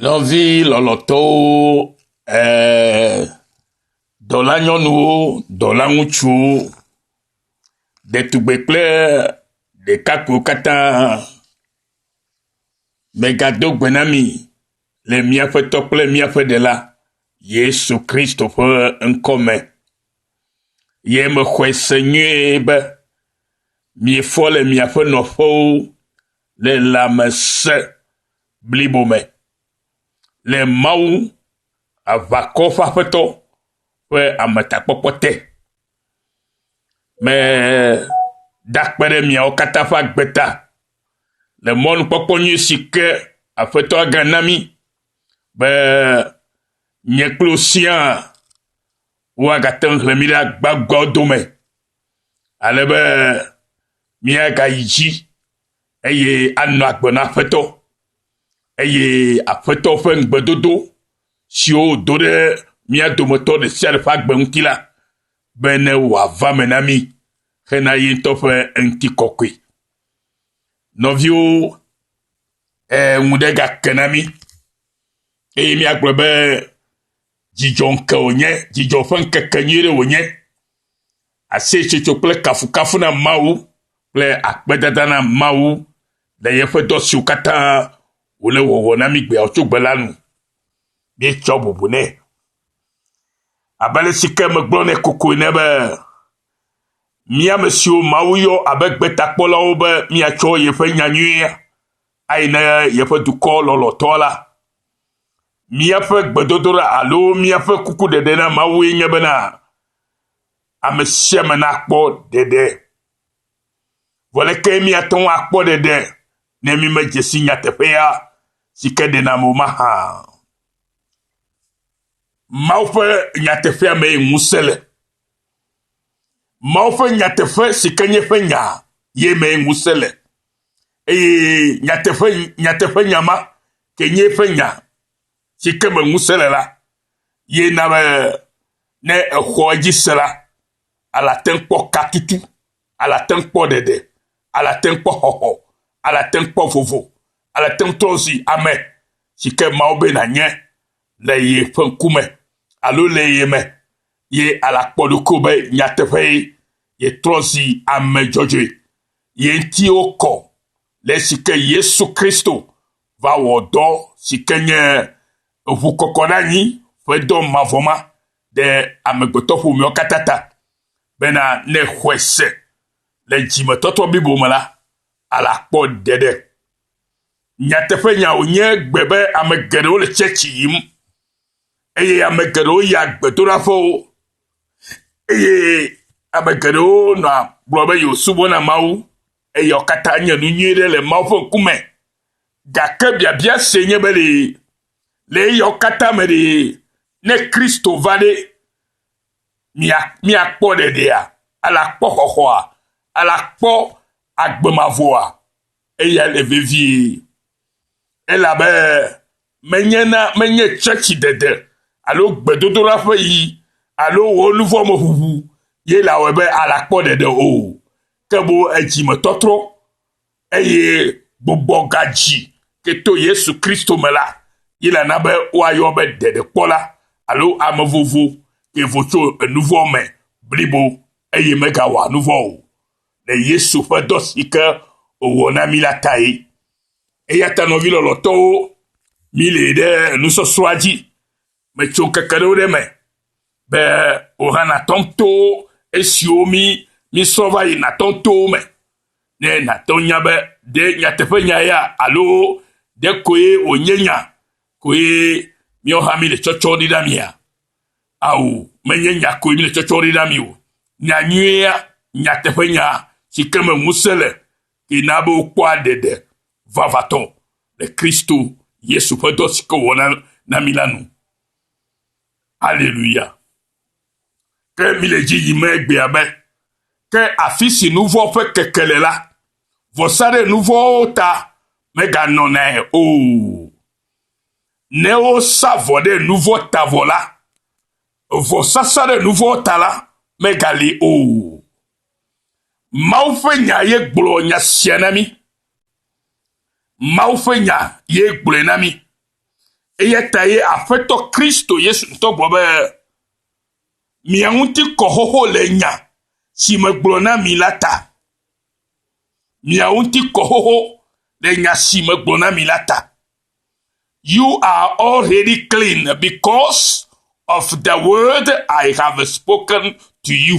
Nɔvi lɔlɔ̃tɔwo, ee, dɔlanyɔnuwo, dɔlaŋutsuwo, ɖetugbui kple ɖekakpuiwo katã, megado gbe na mi le míaƒe tɔ kple míaƒe ɖela Yesu Kristo ƒe ŋkɔ me. Ye mexɔe se nyuie be miefɔ le miaƒe nɔƒewo le lãmesẽ blibo me le Mawu, aʋakɔ ƒe Aƒetɔ ƒe ametakpɔkpɔ te. Meda akpe ɖe miawo katã ƒe agbe ta le mɔnukpɔkpɔ nyui si ke Aƒetɔa gana mí be nye kple wò siaa woagate ŋu hlẽ mí ɖe agbagbɔawo dome ale be míagayi dzi eye anɔ agbe na Aƒetɔ, eye Aƒetɔ ƒe ŋugbedodo siwo wòdo ɖe mía dometɔ ɖe sia ɖe ƒe agbe ŋuti la, be ne wòava me na mí hena ye ŋutɔ ƒe ŋutikɔkɔe. Nɔviwo, ee, ŋu ɖe gake na mí, eye míagblɔ be dzidzɔ ŋke wònye, dzidzɔ ƒe ŋkeke nyui ɖe wònye, Aseyetsotso kple kafukafu na Mawu kple akpedada na Mawu le yeƒe dɔ siwo katã wòle wɔwɔ na mí gbeawo tso gbe la nu. Míetsɔ bubu nɛ. Abe ale si ke megblɔ nɛ kokoe ne be, mía ame siwo Mawu yɔ abe gbetakpɔlawo be míatsɔ yeƒe nya nyuia ayi na yeƒe dukɔ lɔlɔ̃tɔa la, míaƒe gbedodoɖa alo míaƒe kukuɖeɖe na Mawue nye bena, ame sia ame nakpɔ ɖeɖe. Vɔ leke míate ŋu akpɔ ɖeɖe ne mímedze si nyateƒea si ke ɖena ame o mahã? Mawu ƒe nyateƒea mee ŋusẽ le. Mawu ƒe nyateƒe si ke nye ƒe nya ye mee ŋusẽ le. Eye nyateƒe nyateƒe nya ma ke nye ƒe nya si ke me ŋusẽ le la ye na be ne exɔ edzi se la, ele ate ŋu kpɔ katutu, ele ate ŋu kpɔ ɖeɖe, ele ate ŋu kpɔ xɔxɔ, ele ate ŋu kpɔ vovo, ele ate ŋu trɔ zi ame si ke Mawu be nànye le yeƒe ŋkume alo le ye me, ye ele akpɔ ɖokuiwò be nyateƒee yetrɔ zi ame dzɔdzɔe. Ye ŋuti wokɔ le esi ke Yesu Kristo va wɔ dɔ si ke nye ŋukɔkɔɖeanyi ƒe dɔ mavɔ ma ɖe amegbetɔƒomeawo katã ta bena ne xɔe se le dzimetɔtrɔ blibo me la, ale akpɔ ɖeɖe. Nyateƒenya wònye gbe be ame geɖewo le tsɛtsi yim eye ame geɖewo yia gbedoɖaƒewo eye ame geɖewo nɔa gblɔ be yewosubɔna Mawu. Eyawo katã nye nu nyui ɖe le Mawu ƒe ŋkume. Gake biabia sie nye be ɖe le eyawo katã me ɖe ne Kristo va ɖe míakpɔ ɖeɖea, ele akpɔ xɔxɔa, ele akpɔ agbe mavɔa? Eya le vevie. Elabe menye na menye tsɔtsi dede alo gbedodoɖa ƒe yi alo wò nuvɔ me ʋuʋu ye le awɔe be alakpɔ ɖeɖe o. ke boŋ edzimetɔtrɔ eye gbugbɔ gadzi ke to Yesu Kristo me la ye la na be woayɔ be ɖeɖekpɔla alo ame vovo ke vo tso enuvɔ me blibo eye megawɔa nuvɔ o le Yesu ƒe dɔ si ke wòwɔ na mí la tae. Eya ta nɔvi lɔlɔtɔwo, mílée ɖe enusɔsrɔ̃a dzi Metso ŋkeke ɖewo ɖe me be wòhã nàtɔ to esiwo mi misɔ va yi nàtɔ to wo me ne nàtɔ nya be ɖe nyateƒe nya ya alo ɖe koe wònye nya koe míawo hã mile tsɔtsɔ ɖi ɖe amia. Ao, menye nya koe mile tsɔtsɔ ɖi ɖe ami o. Nya nyuia, nyateƒe nya si ke me ŋusẽ le, ke na be wokpɔa ɖeɖe vavãtɔ le Kristo Yesu ƒe dɔ si ke wòwɔ na, na mi la nu. Aleluya. Ke mile edzi yim egbea be, ke afi si nuvɔ ƒe keke le la, vɔsa ɖe nuvɔwo ta meganɔnae o. Ne wosa vɔ ɖe nuvɔ ta vɔ la, vɔsasa ɖe nuvɔ ta la megali o. Mawu ƒe nya ye gblɔ nya sia na mi. Mawu ƒe nya ye gblɔe na mi. Eya ta ye Aƒetɔ Kristo Yesu ŋutɔ gblɔ be, Mia ŋuti kɔ xoxo le nya si megblɔ na mi la ta. Mia ŋuti kɔ xoxo le nya si megblɔ na mi la ta. You are already clean because of the word I have spoken to you.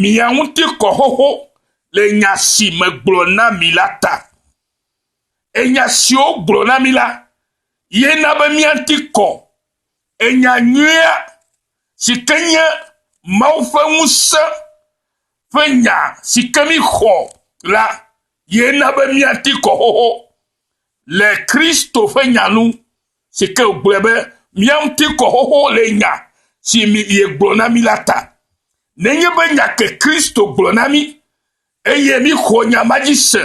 mia ŋuti kɔ xoxo le nya si megblɔ na mi la ta. Enya siwo gblɔ na mi la ye na be mia ŋuti kɔ. Enya nyuia si ke nye Mawu ƒe ŋusẽ ƒe nya si ke mi xɔ la ye na be mia ŋuti kɔ xoxo le Kristo ƒe nya nu. si ke wògblɔe be, Mía ŋuti kɔ xoxo le nya si miegblɔ na mí la ta. Nenye be nya ke Kristo gblɔ na mí, eye míxɔ nya ma dzi se,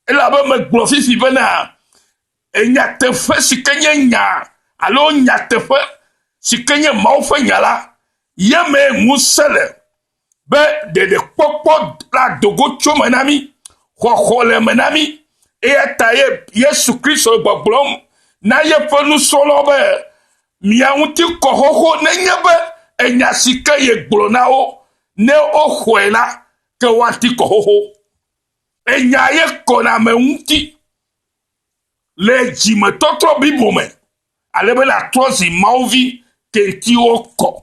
elabe megblɔ fifi bena, nyateƒe si ke nye nya alo nyateƒe si ke nye Mawu ƒe nya la, ye mee ŋusẽ le. be ɖeɖekpɔkpɔ ado go tso me na mí, xɔxɔ le me na mí. Eya ta ye Yesu Kristo le gbɔgblɔm na yeƒe nusrɔ̃lawo be, Mia ŋuti kɔ xoxo nenye be enya si ke yegblɔ na wo ne woxɔe la te woati kɔ xoxo. Enya ye kɔna ame ŋuti le dzimetɔtrɔ blibo me ale be nàtrɔ zi Mawu vi tetiwo kɔ.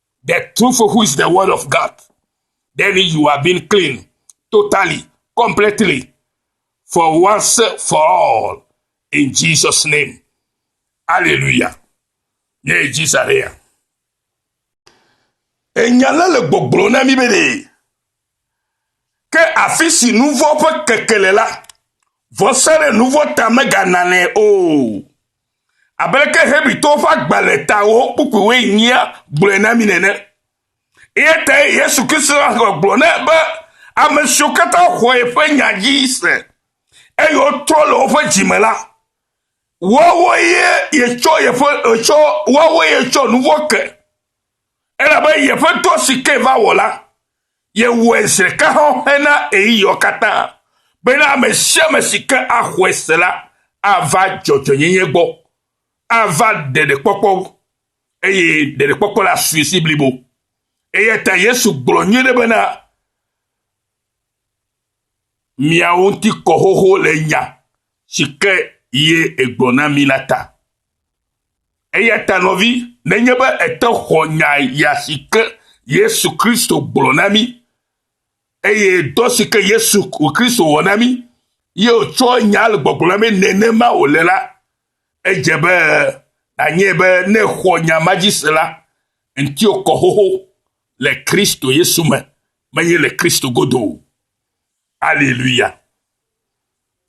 The truth who is the word of God. Then you are being clean totally, completely, for once, for all, in Jesus' name. Hallelujah. Yeah, Jesus. Enya la le gbɔgblɔ na mi be Ke afi si nu vɔ̃ ƒe keke le la, vɔsa ɖe nu vɔ̃ ta megananɛ o. Abe aleke Hebritɔwo ƒe agbalẽ ta wɔwɔ kpukpuiwoe nyia gblɔe na mí nene. Eya tae Yesu Kristo ƒe agbe gblɔ nɛ be ame siwo katã xɔ yeƒe nya dzi se, eye wotrɔ le woƒe dzi me la, woawoe yetsɔ yeƒe etsɔ woawoe yetsɔ nu vɔ̃ ke. Elabe yeƒe dɔ si ke va wɔ la, yewɔe zi ɖeka xɔxɛ na ɣeyiɣiawo katã, bena ame sia ame si ke axɔe se la ava dzɔdzɔenyenye gbɔ, ava ɖeɖekpɔkpɔ, eye ɖeɖekpɔkpɔ la asui zi blibo. Eya ta Yesu gblɔ nyuie ɖe bena, miawo ŋuti kɔ xoxo le nya si ke ye egblɔ na mi la ta. Eya ta nɔvi, nenye be ète xɔ nya ya si ke Yesu Kristo gblɔ na mi, eye dɔ si ke Yesu Kristo wɔ na mi, ye wòtsɔ nya le gbɔgblɔ na mi nenema wòle la, edze be nanye be ne xɔ nya ma dzi se la, ŋutiwò kɔ xoxo le Kristo Yesu me. menye le Kristo godo o. Aleluya.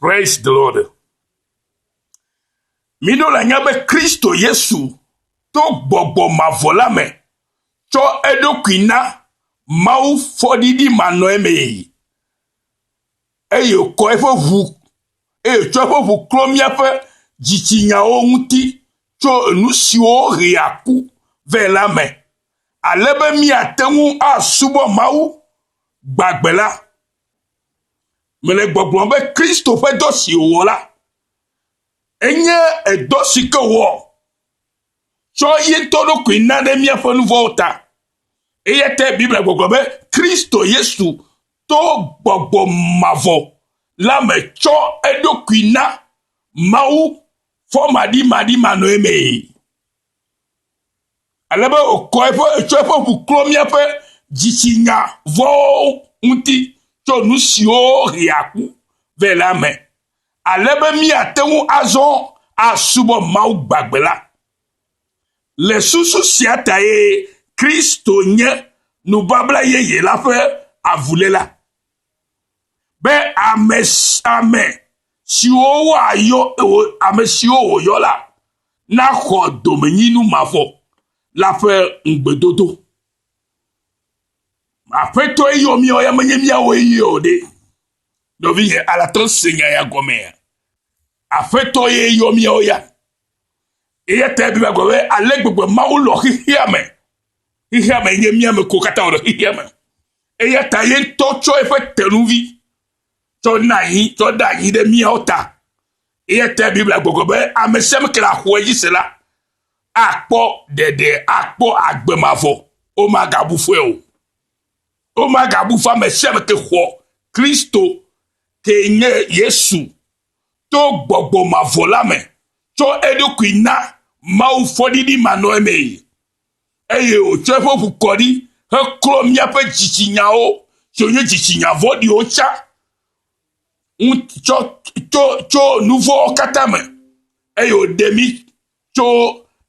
Praise the Lord. Miɖo le nya be Kristo Yesu to gbɔgbɔ mavɔ la me tsɔ eɖokui na Mawu fɔɖiɖi manɔe mee. Eye wòkɔ eƒe ʋu, eye wòtsɔ eƒe ʋu klɔ míaƒe dzitsinyawo ŋuti tso enu siwo hea ku vɛ la me. ale be míate ŋu asubɔ Mawu gbagbe la. Mele gbɔgblɔm be Kristo ƒe dɔ si wòwɔ la, enye edɔ si ke wòwɔ tsɔ ye ŋutɔ ɖokui na ɖe míaƒe nu vɔ̃wo ta. Eya ta Biblia gbɔgblɔ be Kristo Yesu to gbɔgbɔ mavɔ la me tsɔ eɖokui na Mawu fɔmaɖimaɖimanɔe mee. ale be wòkɔ eƒe, etsɔ eƒe ŋu klɔ míaƒe dzitsinya vɔ̃wo ŋuti tso nu siwo hea ku vɛ la me, ale be míate ŋu azɔ asubɔ Mawu gbagbe la. Le susu sia tae Kristo nye nubabla yeye la ƒe avuléla. be ame ame siwo woayɔ ame siwo wòyɔ la naxɔ domenyinu mavɔ la ƒe ŋugbedodo. Aƒetɔe yɔ míawo ya menye míawoe yɔ o ɖe. Nɔvinye alate ŋu se nya ya gɔmea? Aƒetɔ ye yɔ míawo ya. Eya ta ebla gbe be ale gbegbe Mawu lɔ xexea me. Xexea me nye mía me ko katã wòle xexea me. Eya ta ye ŋutɔ tsɔ eƒe tenuvi tsɔ na anyi, tsɔ ɖe anyi ɖe míawo ta. Eya ta Biblia gbɔgblɔ be ame sia ame ke axɔe dzi se la, akpɔ ɖeɖe, akpɔ agbe mavɔ. Womagabu fɔe o. Womagabu fɔ ame sia ame ke xɔ Kristo, ke nye Yesu, to gbɔgbɔ mavɔ la me, tsɔ eɖokui na Mawu fɔɖiɖi manɔamee. eye wòtsɔ eƒe ŋu kɔ ɖi heklɔ míaƒe dzitsinyawo tso nye dzitsinya vɔ̃ɖiwo tsã ŋuti tsɔ to tso nu vɔ̃wo katã me eye wòɖe mí tso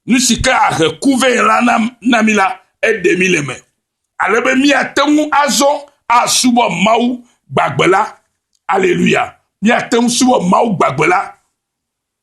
nu si ke ahe ku vɛ la na, na mí la, eɖe mí le me. Ale be míate ŋu azɔ asubɔ Mawu gbagbe la. Aleluya. Míate ŋu subɔ Mawu gbagbe la.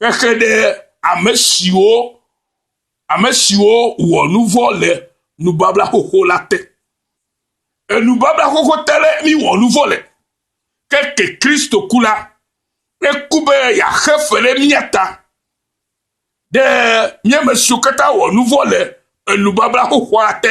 Xexe ɖe ame siwo ame siwo wɔ nu vɔ̃ le nubabla xoxo la te. Enubabla xoxo te le mi wɔ nu vɔ̃ le. Ke ke Kristo ku la, eku be yeaxe fe ɖe mía ta. Ɖe míame siwo katã wɔ nu vɔ̃ le enubabla xoxoa te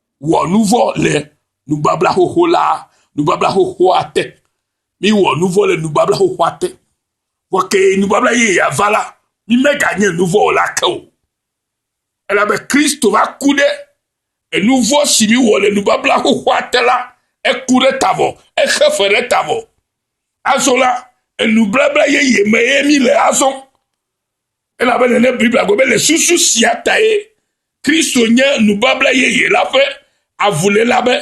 wɔ nu vɔ̃ le nubabla xoxo la, nubabla xoxoa te. Mi wɔ nu vɔ̃ le nubabla xoxoa te. Vɔ ke nubabla ye ya va la, mi me ga nye nu vɔ̃ la ke o. Elabe Kristo va ku ɖe enu vɔ̃ si mi wɔ le nubabla xoxoa te la, eku ɖe tavɔ, exe fe ɖe tavɔ. Azɔ la, enubabla ye ye me ye mi le azɔ. Elabena ne Biblia gblɔ be le susu sia tae Kristo nye nubabla yeye la ƒe avuléla be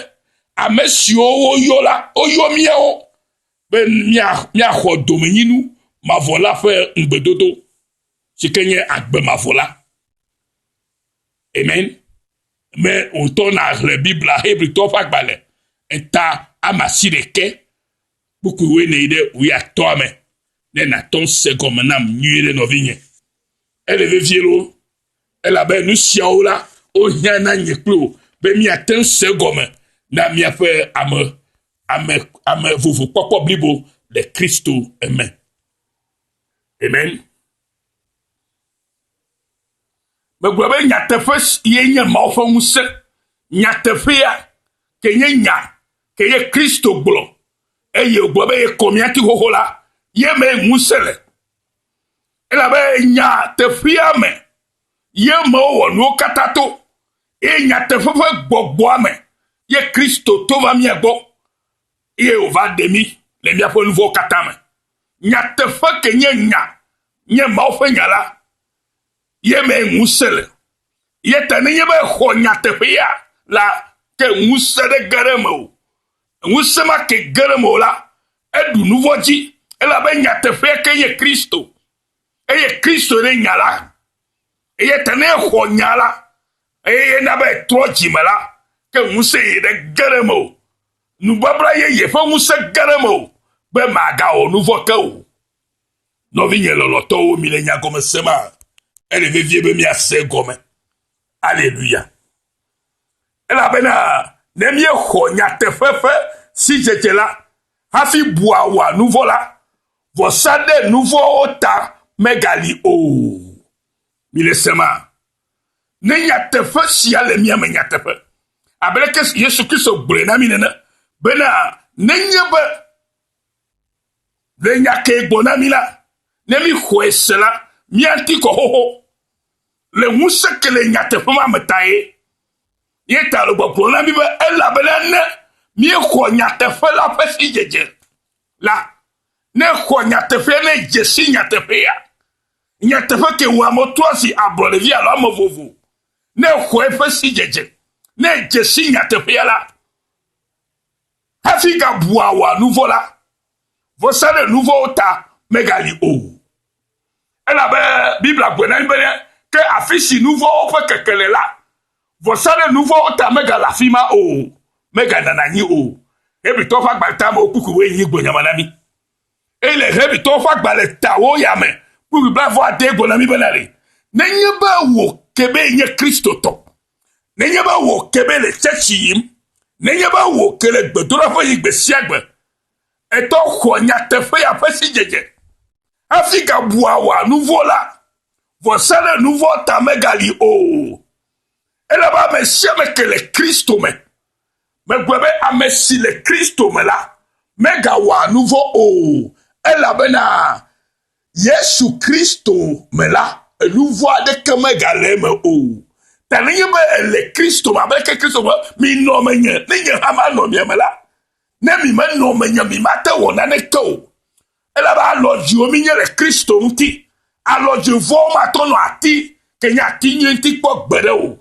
ame siwo woyɔ la, woyɔ míawo be míaxɔ domenyinu mavɔ la ƒe ŋugbedodo si ke nye agbe mavɔ la. Amen. Me wòtɔ nàxlẽ Biblia Hebritɔ ƒe agbalẽ eta ama si ɖeke Kpukpui woe nèyi ɖe wuiatɔ̃a me ne nàtɔ ŋusẽ gɔme nam nyuie ɖe, nɔvinye. Ele vevie loo, elabe nu siawo la, wohiã na nye kple wò be míate ŋu se egɔme na míaƒe ame, ame, ame vovo kpɔkpɔ blibo le Kristo me. Amen. Megblɔ be nyateƒe ye nye Mawu ƒe ŋusẽ. Nyateƒea ke nye nya ke ye Kristo gblɔ eye wògblɔ be yekɔ mía ti xoxo la, ye mee ŋusẽ le. Elabe nyateƒea me ye me wowɔ nuwo katã to eye nyateƒe ƒe gbɔgbɔa me ye Kristo to va mía gbɔ eye wòva ɖe mí le míaƒe nuwo katã me. Nyateƒe ke nye nya, nye Mawu ƒe nya la, ye me ŋusẽ le. Ye ta nenye be xɔ nyateƒea la ke ŋusẽ ɖe ge ɖe me o, ŋusẽ ma ke ge ɖe me o la, eɖu nu vɔ̃ dzi, elabe nyateƒea ke nye Kristo, eye Kristo nye nya la. Ye ta ne exɔ nya la, eye na be etrɔ dzime la, ke ŋusẽ yi ɖe ge ɖe me o. Nubabla yeye ƒe ŋusẽ ge ɖe mewò be màgawɔ nu vɔ̃ ke o. Nɔvinye lɔlɔ̃tɔwo, mile nyagɔme sem a? Ele vevie be míase egɔme. Aleluya! Elabena ne míexɔ nyateƒe ƒe sidzedze la hafi bua wɔa nu vɔ̃ la, vɔsa ɖe nu vɔ̃wo ta megali o. Mile sem a? Ne nyateƒe sia le mia me nyateƒe, abe leke Yesu Kristo gblɔe na mi nene, bena nenye be le nya ke gbɔ na mi la, ne mi xɔe se la, miati kɔ xoxo le ŋusẽ ke le nyateƒe ma me tae. Ye ta le gbɔgblɔ na mi be elabena ne míexɔ nyateƒe la ƒe sidzedze. la, ne xɔ nyateƒea, ne dze si nyateƒea, nyateƒe ke wɔ ame toa si ablɔɖevi alo ame vovo, ne xɔ eƒe sidzedze, ne dze si nyateƒea la, hafi gabua wòa nu vɔ̃ la, vɔsa ɖe nu vɔ̃wo ta megali o. Elabe Biblia gblɔe na mí be, Ke afi si nu vɔ̃wo ƒe keke le la, vɔsa ɖe nu vɔ̃wo ta megale afi ma o, meganana anyi o. Hebritɔwo ƒe agbalẽ ta mewo kpukpuiwoe nyi gbonyama na mí. Eye le Hebritɔwo ƒe agbalẽ tawo ya me, kpukpui blaeve-vɔ-adee gblɔ na mí bena le, Nenye be wò kebee nye Kristotɔ, nenye be wò kebee le tsɛtsi yim, nenye be wò ke le gbedoɖaƒe yim gbe sia gbe, etɔ xɔ nyateƒea ƒe sidzedze hafi gabua wɔ nuvɔ la, vɔsa ɖe nuvɔ ta megali o. Ele be ame sia ame ke le Kristo me megbe be ame si le Kristo me la megawɔ nuvɔ o, elabena Yesu Kristo me la, enuvɔ aɖeke megale eme o. Ta nenye be ele Kristo me, abe leke Kristo be, minɔ menye, ne nye hã manɔ mia me la, Ne mi menɔ menye, mi mate wɔ naneke o. Elabe alɔ dziwo mi nye le Kristo ŋuti. Alɔ dzivɔwo matɔ nɔ ati, ke nye ati nyuie ŋuti kpɔ gbeɖe o.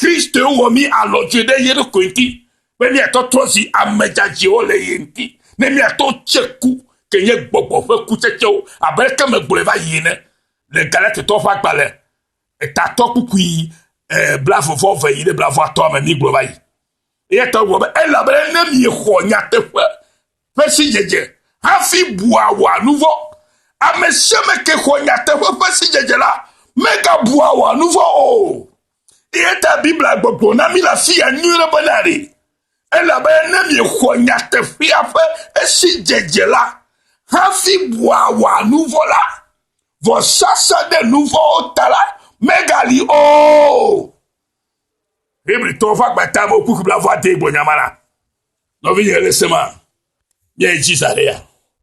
Kristo ye wɔ mi alɔ dzie ɖe ye ɖokui ŋuti, be mi atɔ trɔ zi ame dzadzɛwo le ye ŋuti, ne mi atɔ tse ku, ke nye gbɔgbɔ ƒe kutsetsewo, abe leke me gblɔe va yi ene, le Galatitɔ ƒe agbalẽ etatɔ kpukpui, eh, blavevɔ ve yi ɖe blavɔatɔa me mi gblɔ va yi. Eya ta gblɔ be elabena ne miexɔ nyateƒe ƒe sidzedze hafi bua wòa nu vɔ, ame sia ame ke xɔ nyateƒe ƒe sidzedze la megabua wòa nu vɔ o. Eya ta Biblia gbɔgblɔ na mi le afia nyuie be na ɖe elabena ne miexɔ nyateƒea ƒe esidzedze la hafi bua wòa nu vɔ la, vɔsasa ɖe nu vɔwo ta la megali o. Hebritɔwo ƒe agbata me wokui kple avɔ ade gbɔnyama la. Nɔvinye le sema. Nye Jesus le ya.